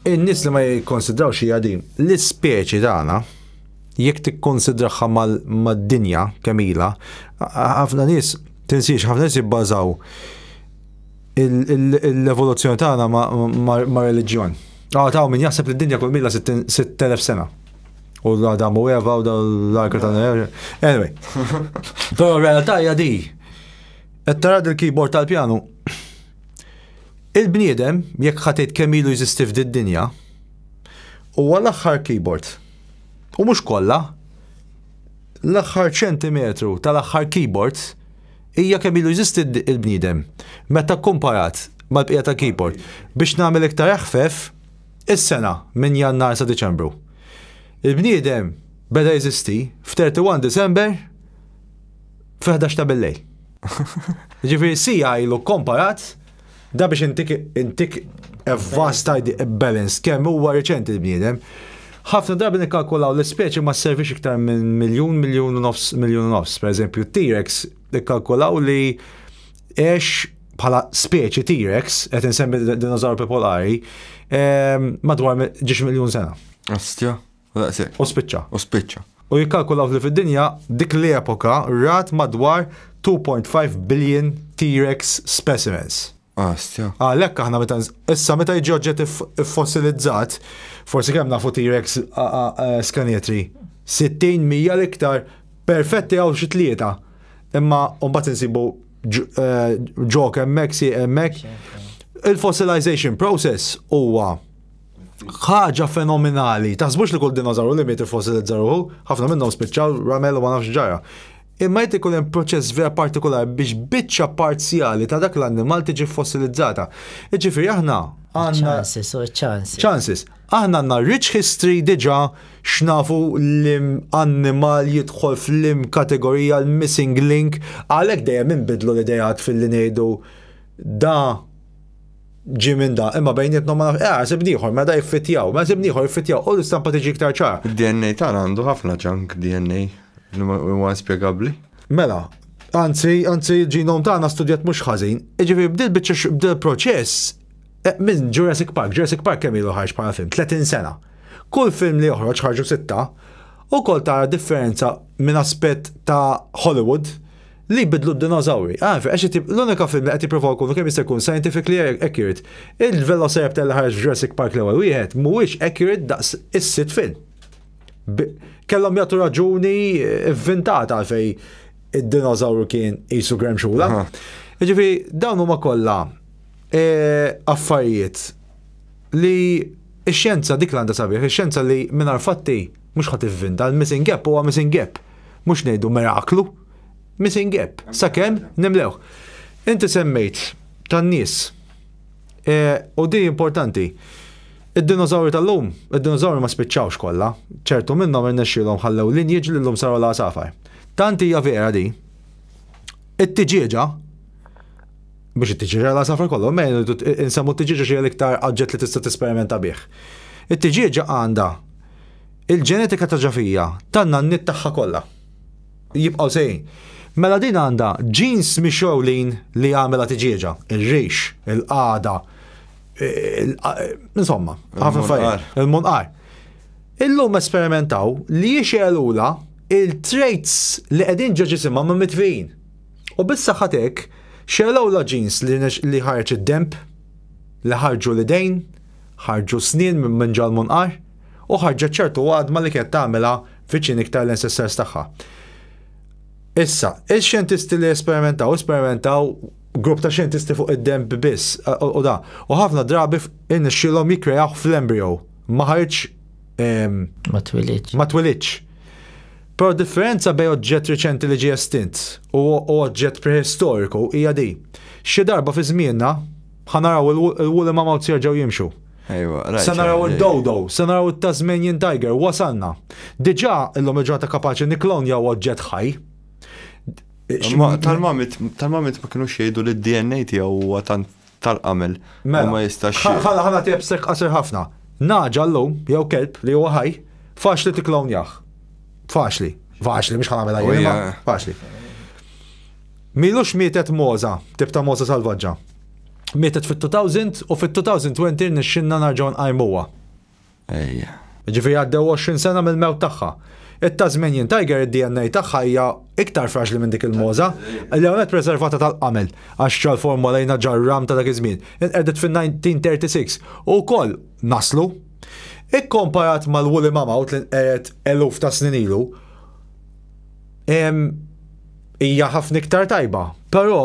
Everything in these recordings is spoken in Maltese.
In-nies li ma jikkonsidrawx hija din. L-ispeċi tagħna, jekk tikkonsidraha mad-dinja kemm ilha, ħafna nies tinsiex, ħafna nies jibbażaw l-evoluzzjoni tagħna ma' reliġjon. Għad hawn min jaħseb li d-dinja kull mila 6000 sena. U l-Adam u Eva u l-arka ta' Anyway. Però realtà hija di. Qed tara l-keyboard tal-pjanu? Il-bniedem, jekk ħa tgħid kemm ilu jeżisti f'did-dinja, huwa l-aħħar keyboard. U mhux kollha, l-aħħar ċentimetru tal-aħħar keyboard hija kemm ilu jeżisti l-bniedem meta kkumparat mal-bqija tal-keyboard. Biex nagħmel iktar eħfef, is-sena minn Jannar sa Diċembru. Il-bniedem beda jeżisti f'31 December fil-11 ta' billej. Ġifiri sija ilu komparat, da biex intik intik vast balance kemm huwa reċenti l-bniedem. Ħafna drabi nikkalkulaw l-ispeċi ma servix iktar minn miljun, miljun u nofs, miljun u nofs. Per eżempju, T-Rex nikkalkulaw li ex bħala speċi T-Rex, qed insemmi dinozaur popolari, ehm, madwar ġiex miljun sena. Astja. U daqshekk. U spiċċa. U spiċċa. U jikkalkulaw li fid-dinja dik l-epoka rat madwar 2.5 billion T-Rex specimens. Astja. Għalhekk aħna meta issa meta jiġi oġġett iffosilizzat, forsi kemm nafu T-Rex skanetri. 60 mija l-iktar perfetti għaw xi tlieta. Imma mbagħad insibu ġok hemmhekk si hemmhekk. Il-fossilization process huwa ħaġa fenomenali. Taħsbux li kull dinożawru li miet fossilizza ruħu, ħafna minnhom spiċċaw ramel u ma nafx ġara. Imma jt ikun hemm proċess vera partikolar biex biċċa parzjali ta' dak l-annimal tiġi fossilizzata. Iġifieri aħna għandna chances u chances. Chances. Aħna għandna rich history diġà x'nafu l-annimal jidħol fl-im kategorija l-missing link għalhekk dejjem inbidlu l-idejat fil-li ngħidu da ġi minn da, imma bejnietna ma nafx, eh, sib nieħor, ma da jiffittjaw, ma sib nieħor jiffittjaw, u l-istampa tiġi iktar ċar. DNA tan għandu ħafna ġank DNA, li huwa spjegabbli. Mela, anzi, anzi, ġinom tagħna studjat mhux ħażin, iġifieri bdil biċċa bdil proċess eh, minn Jurassic Park, Jurassic Park kemm ilu ħarġ bħala film, 30 sena. Kull film li joħroġ ħarġu sitta, u kol tara differenza minn aspett ta' Hollywood, Li jbiddlu d-dinożawri. Ah, għax qed jib- l-unika film li qed jippruvaw ikunu kemm jista' jkun scientifically accurate. Il-Velociraptor li ħareġ f'Jurassic Park l-ewwel wieħed mhuwiex accurate daqs is-sitt film. B- Kellhom jagħtu raġuni eh, vvintata għalfej id-dinożawru kien qisu gremxula. Aha. Jiġifieri dawn huma kollha eh, affarijiet li x-xjenza dik l-għandha sabiħ, ix-xjenza li mingħajr fatti mhux ħadd ivvinta, l-missing gap huwa missing gap. Mhux ngħidu miraklu. Missing gap, sakemm nimlewh. Inti semmejt tan-nies. E, u di importanti. Id-dinożawri tal-lum, id-dinożawri ma spiċċawx kollha, ċertu minnhom irnexxielhom ħallew linjiġ li llum saru l-għasafar. Tant hija vera di. It-tiġieġa biex it-tiġieġa l-għasafar kollu, ma insemmu t-tiġieġa xi l-iktar aġġett li tista' tisperimenta bih. It-tiġieġa għandha Il-ġenetika ta' ġafija tan-nanniet tagħha kollha. Jibqgħu sejjin. Mela din għandha ġins mixgħulin li jagħmilha tiġieġa, ir-rix, il-qagħda, insomma, ħafna affarijiet, il-munqar. Illum esperimentaw li jixgħelulha il-traits li qegħdin ġo ġisimha ma' mitfijin. U bis-saħħa hekk xegħlewlha ġins li ħareġ id-denb, li ħarġu l-idejn, ħarġu s-snien minn ġo l-munqar. u ħarġet ċertu għadma li kienet tagħmilha viċin iktar l-ancestors tagħha. Issa, il-xjentisti li esperimentaw, esperimentaw grupp ta' xjentisti fuq id-demb biss u da. U ħafna drabi innexxilhom jikkrejaw fl-embryo. Ma ħarġ. Ma twilitx. Ma twilitx. Però differenza bej oġġett riċenti li ġie estint u oġġett prehistoriku hija di. Xi darba fi żmienna ħanaraw il-wulima mawt jerġgħu jimxu. Ejwa, rajt. Se naraw id-dodo, se naraw it-Tasmanian tiger, wasalna. Diġà illum il-ġurnata kapaċi nikklonjaw oġġett ħaj. Tal-mamit, tal-mamit ma kienu xejdu li d-DNA tiegħu huwa tant tal-qamel. Mela, ma jistax. Ħala ħala tiegħek sek qasir ħafna. Naġa llum jew kelb li huwa ħaj, faċli tikklonjah. Faċli, faċli mhux ħala mela oh, faċli. Milux mietet moza, tibta moza salvaġġa. mietet fit-2000 u fit-2020 rnexxinna narġgħu nqajmuha. Ejja. Ġifieri għaddew 20 sena mill-mewt tagħha. It-Tasmanian Tiger id-DNA tagħha hija iktar fraġli minn dik il-moża, l-ewwel nett preservata tal-qamel, għax Charles Ford Molina ġa r-ram ta' dak iż-żmien, inqerdet fin-1936, u wkoll naslu. Ikkomparat mal-woolly mammoth li nqered eluf ta' snin ilu, hija ħafna iktar tajba. Però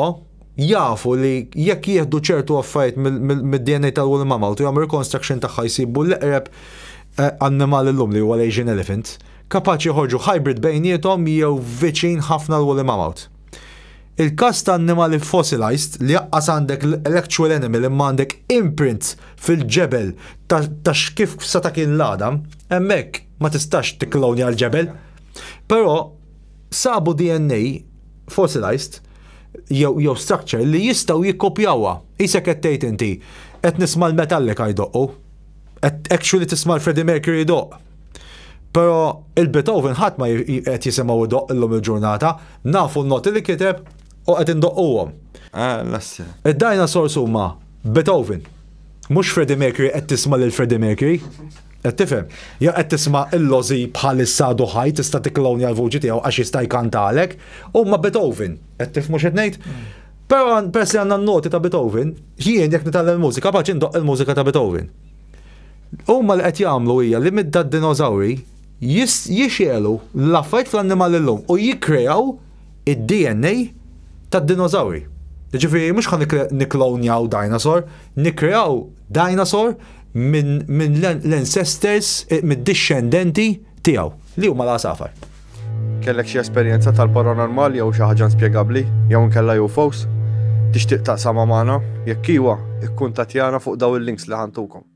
jafu li jekk jieħdu ċertu affarijiet mid-DNA tal woolly mammoth u jagħmlu reconstruction tagħha jsibu l-eqreb eh, annimal illum li huwa l-Asian elephant, kapaċi joħorġu hybrid bejniethom jew viċin ħafna l woolly mammoth. Il-każ ta' annimali fossilized li jaqqas għandek l-actual animal imma għandek imprint fil-ġebel ta' x'kif sa ta' kien l-għadam, hemmhekk ma tistax tikklonja l-ġebel. Però Sabu DNA fossilized jew jew structure li jistgħu jikkopjawha. Qisek qed tgħid inti, qed nisma' l-Metallica jdoqqu. Qed actually tisma' l-Freddie Mercury jdoqq. Però il-Beethoven ħadd ma qed jisimgħu jdoqq illum il-ġurnata, nafu n-noti li kiteb u qed indoqquhom. Id-dinosaurs huma Beethoven. Mhux Freddie Mercury qed tisma' lil Freddie Mercury. Qed tifhem? Ja qed tisma' il-lożi bħalissa għadu ħaj tista' tikklonja l-vuċi tiegħu għax jista' jkantalek, huma Beethoven, qed tifhmu x'qed ngħid? Mm. Però peress li għandna n-noti ta' Beethoven, jien jekk nitgħallem il-mużika paċi ndoqq il-mużika ta' Beethoven. Huma li qed jagħmlu hija li midda d-dinożawri jixelu l-affarijiet fl-annimali llum u jikkrejaw id-DNA tad-dinożawri. Jiġifieri mhux ħa nikklonjaw dinosaur, nikkreaw dinosaur minn l-ancestors, eh, mid-dixxendenti tiegħu, li huma l-għasafar. Kellek xi esperjenza tal-paranormal jew xi ħaġa inspjegabbli jew inkella UFOs? Tixtieq taqsamha magħna? Jekk iwa, ikkuntattjana fuq dawn il-links li ħantukom.